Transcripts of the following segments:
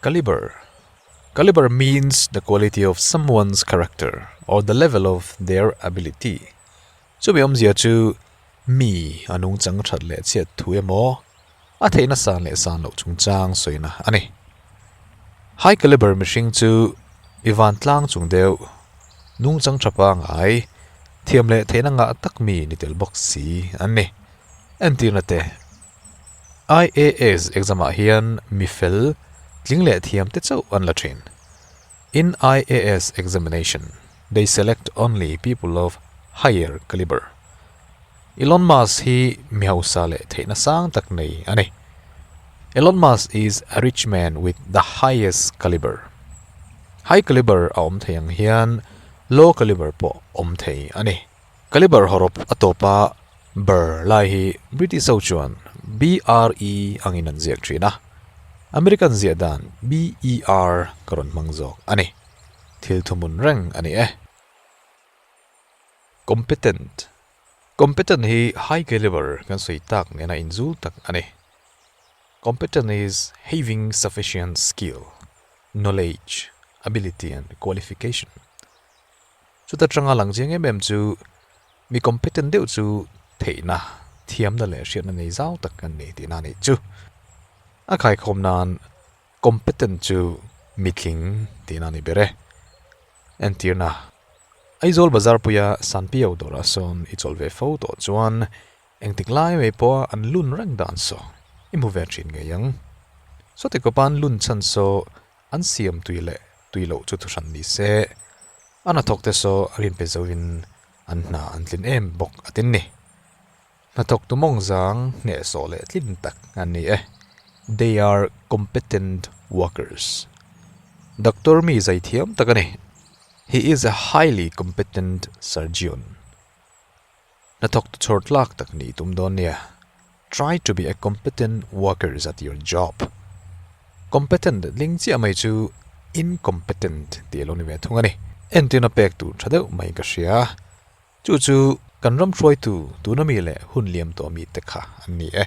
Caliber, Caliber means the quality of someone's character or the level of their ability. Chumi awmzia chu mi a nungchang that leh chhiat thu emaw a theih nasa leh san loh chungchang sawina a ni. High caliber mihring chu i van tlang chung deuh nungchang tha pangai thiam leh theihna ngah tak mi ni tel bawk si an ni. Entirna te IAS exam ah hian mi fel tling leh thiam te chauh an la thin. In IAS examination, they select only people of higher caliber. Elon Musk hi mi hausa leh theihna sang tak nei a ni. Elon Musk is a rich man with the highest caliber. High caliber a awm thei ang hian low caliber pawh awm thei a ni. Caliber hawrawp a tawpa ber lai hi British ho chuan BRE angin an ziak thin a, American ziah dan BER ka rawn hmang zawk a ni. Thil thumun reng a ni e. Competent, Competent hi high caliber kan sawi tak nena inzul tak a ni. Competent is having sufficient skill, knowledge, ability and qualification. Chuta tanga lang chiang em em chu mi competent deuh chu theihna, thiamna leh hriatna ngei zau tak an ni tihna a nih chu. A khaikhawm nan Competent chu mitling tihna a ni ber e. Entirna, Aizawl bazar puia Sanpio dawrah sawn i chawlh ve fo tawh chuan engtik lai mai pawha an lun reng dan saw i hmu ve thin ngei ang. Sawti kawpan lun chhan saw an siam tui leh tui loh chu thuhran ni se, a hnathawkte saw a rin pe zoin an hna an tlin em bawk a tin ni. Hnathawk tu mawng zang hneh sawh leh tlin tak an ni e. They are competent workers. Doctor mi zai thiam tak a ni. He is a highly competent surgeon. Hnathawk tu chhawr tlak tak ni tum dawn nia. Try to be a competent workers at your job. Competent tling chiah mai chu incompetent tih a lo ni ve thung a ni. Entirna pek tur tha deuh mai ka hria. Chu chu kan ram hruaitu tuna mi leh hun liam tawh mi te kha an ni e.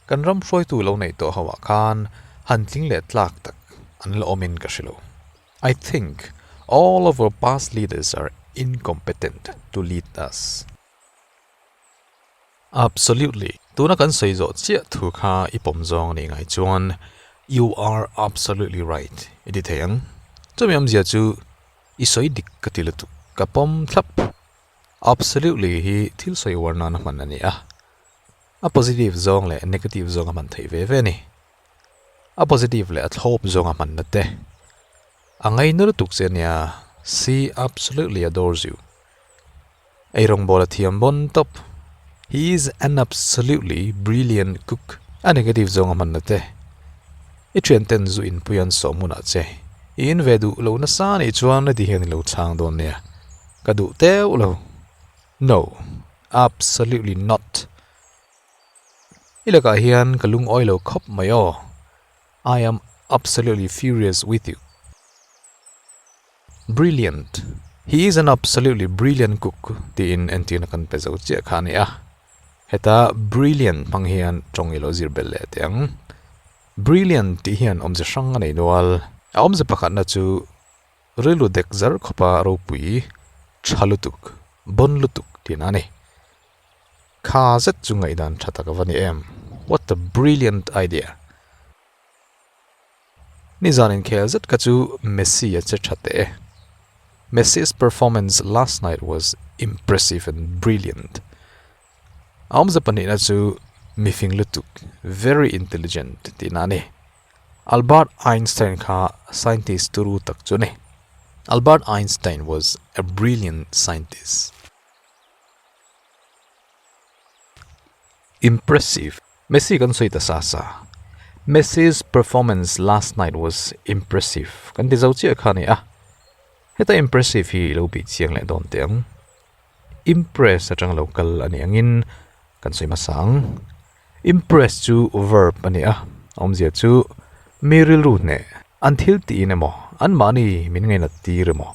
Kan ram hruaitu lo neih tawh ho ah khan han tling leh tlak tak an la awm in ka hre lo. I think all of our past leaders are incompetent to lead us. Absolutely. Tuna kan sawi zawh chiah thu kha i pawm zawng a nih ngai chuan You are absolutely right i ti thei ang. Chumi awmzia chu i sawi dik ka ti lutuk, ka pawm thlap. Absolutely hi thil sawi uar nana hman a ni a, a positive zawng leh a negative zawng a hman theih ve ve a ni. A positive leh a thlawp zawng a hmanna te a ngaina lutuk che a nia, see absolutely a dawr ziu. Ei rawngbâwl a thiam bawn tawp. He is an absolutely brilliant cook. A negative zawng a hman la te. I ṭhianten zu inpui an sawh hmunah che i in ve duh lo nasa nih chuan heti hian i lo chhâng dawn nia, ka duh teuh lo. No, absolutely not. I lakah hian ka lungawi lo khawp mai aw. I am absolutely furious with you. Brilliant! He is an absolutely brilliant cook tiin entîrna kan pe zo chiah kha a ni a. Heta brilliant hmang hian ṭawng ilo zir belh leh teh ang. Brilliant tih hian awmze hrang a nei nual. A awmze pakhatna chu rilru dek zar khawpa ropui ṭha lutuk, bawn lutuk tihna a ni. Kha zet chu ngaihdan ṭha tak a va ni em! What a brilliant idea! Nizan in khel zet kha chu Messi a che tha teh e. Messi's performance last night was impressive and brilliant. A awmze pahnih na chu mifing lutuk, very intelligent tih na ni. Albert Einstein kha scientist turu tak chu ni. Albert Einstein was a brilliant scientist. Impressive, Messi kan sawi ta sa sa. Messi's performance last night was impressive. Kan ti zo chiah kha a ni a. Heta impressive hi i lo bih chiang leh dawn teh ang. Impress atang lo kal a nih angin kan sawi hmasa ang. Impress chu verb a ni a, a awmzia chu mi rilru hneh an thil tiin emaw, anmahni min ngainat tir emaw,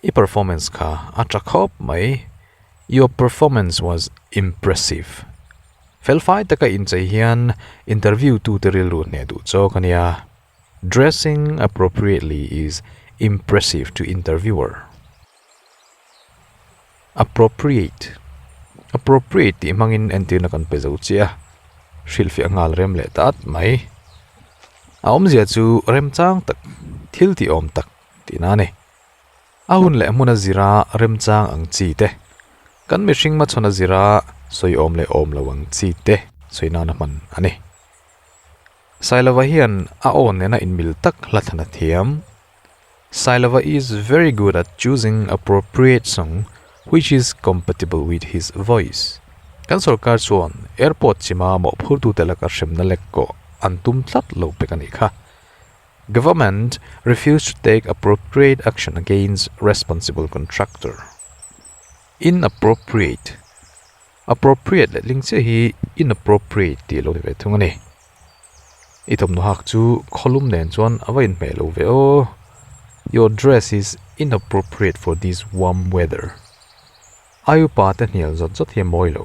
I performance kha a tha khawp mai your performance was impressive felfai taka inchei hian interview tu te rilru hneh duh chawk ania dressing appropriately is impressive to interviewer appropriate appropriate tih hmangin entirna kan pe zo chiah a hrilhfiah nghal rem leh ta at mai a awmzia chu remchang tak thil tih awm tak. Tina a ni. A hun leh hmuna zira remchang ang chi te, kan mihring machhuna zira sawi awm leh awm lo ang chi te sawi nana hman a ni. Sailova hian a awn nena inmil tak hla than a thiam. Sailova is very good at choosing appropriate song which is compatible with his voice. Kan sorkar chuan airport chima mawhphurtute laka hremna lekawh an tum tlat lo pek a nih kha. Government refused to take appropriate action against responsible contractor. Inappropriate, appropriate leh tling chiah hi inappropriate tih lo ni ve thung a ni. I thawmhnaw hak chu khaw lum nen chuan a va inhmeh lo ve aw. Your dress is inappropriate for this warm weather. Ai upa te hnial zawt zawt hi a mawi lo.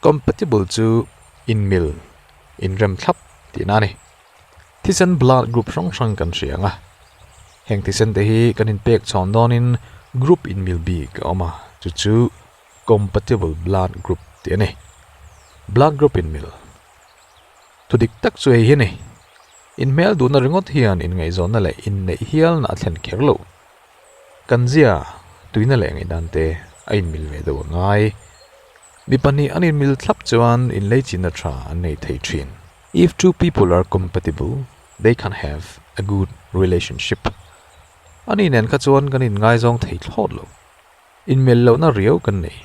Compatible chu inmil, inrem thlap tihna a ni. Thisen blood group hrang hrang kan hria ang a, heng thisen te hi kan inpek chhawn dawnin group inmil bik a awm a, chu chu compatible blood group tih a ni. Blood group inmil, thu dik tak chu hei hi a ni, inhmel duhna ringawt hian inngaihzawhna leh inneih hialna a thlen kher lo. Kan zia tuihna leh ngaihdan te a inmil ve deuh a ngai. Mi pahnih an inmil thlap chuan inleichina tha an nei thei thin. If two people are compatible, they can have a good relationship. Ani nen kha chuan kan inngaizawng thei thlawt lo. Inmel lohna riau kan nei.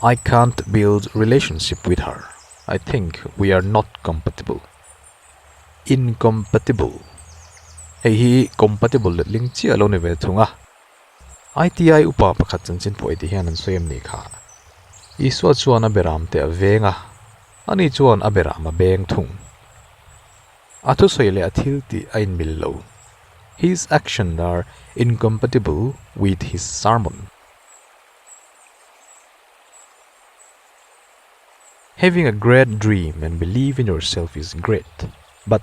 I can't build relationship with her. I think we are not compatible. Incompatible, hei hi compatible letling chiah lo ni ve thung a. ITI upa pakhat chanchin pawh itih hian an sawi em nih kha? Isua chuan a beram teh a veng a, ani chuan a beram a beng thung. A thusawi leh a thiltih a inmil lo. His actions are incompatible with his sermon. Having a great dream and believe in yourself is great, but.